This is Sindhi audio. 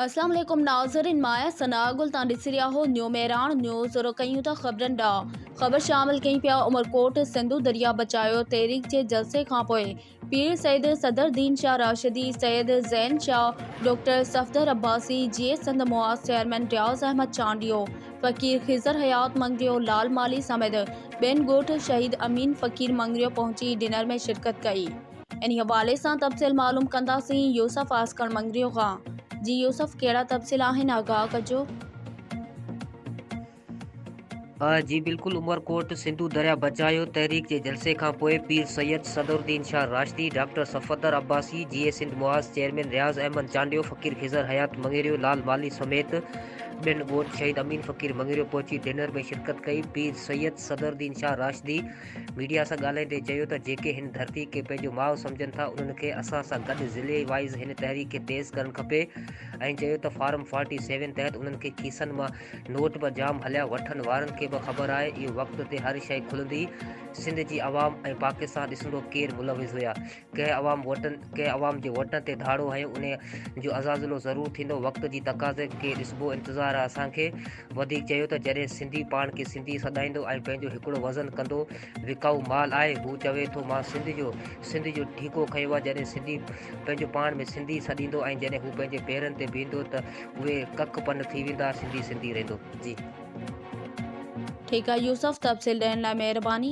اسلام عليڪم ناظرين مان آهيان ثناء گل تان ڏسي رهيا آهو نيو مهراڻ نيوز رخ ڪيون ٿا خبرن ڏانهن خبر شامل ڪيون پيا عمرڪوٽ سنڌو درياء بچايو تحريڪ جي جلسي کانپوء پير سيد صدر دين شاهه راشدي سيد زين شاهه ڊاڪٽر صفدر عباسي جيئي سنڌ معاز چيئرمين رياض احمد چانڊيو فقير خضر حيات مڱريو لال مالهي سميت ٻين ڳوٺ شهيد امين فقير مڱريو پهچي ڊنر ۾ شرڪت ڪئي انهي حوالي سان تفصيل معلوم ڪنداسين يوسف عاسڪر مڱريو کان جي يوسف ڪهڙا تفصيل آهن آگاهه ڪجو. جي بلڪل عمرڪوٽ سنڌو درياء بچايو تحريڪ جي جلسي کانپوء Pir Syed Sadruddin Shah Rashdi, doctor Safdar Abbasi, Jeay Sindh Mahaz chairman Riaz Ahmed Chandio, Faqir Khizar Hayat Mangrio, Lal Malhi سميت ٻين ڳوٺ شهيد امين فقير مڱريو پهچي ڊنر ۾ شرڪت ڪئي، پير سيد صدر الدين شاهه راشدي. ميڊيا سان ڳالهائيندي چيو ته جيڪي هن ڌرتي کي پنهنجو ماء سمجهن ٿا انهن کي اسان سان گڏ ضلعي وائيز هن تحريڪ کي تيز ڪرڻ کپي ۽ چيو ته فارم فورٽي سيون تحت انهن کي کيسن مان نوٽ به جام هليا وٺن وارن کي به خبر آهي اهو وقت تي هر شئي کلندي سنڌ جي عوام ۽ پاڪستان ڏسندو ڪير ملوث هيا ڪنهن عوام ووٽن ڪنهن عوام جي ووٽن تي ڌاڙو هنيو انهي جو ازازلو ضرور ٿيندو وقت جي تقاضي کي ڏسبو انتظار آ اسان کي وڌيڪ چيو ته جڏهن سنڌي پاڻ کي سنڌي سڏائيندو ۽ پنهنجو هڪڙو وزن ڪندو وڪائو مال آهي هو چوي ٿو مان سنڌ جو سنڌ جو ٺيڪو کنيو آ جڏهن سنڌي پنهنجو پاڻ ۾ سنڌي سڏيندو ۽ جڏهن هو پنهنجي پيرن تي بيهندو ته اهي ڪک پن ٿي ويندا سنڌي سنڌي رهندو جي. ٺيڪ آ يوسف تفصيل ڏيڻ لاء مهرباني.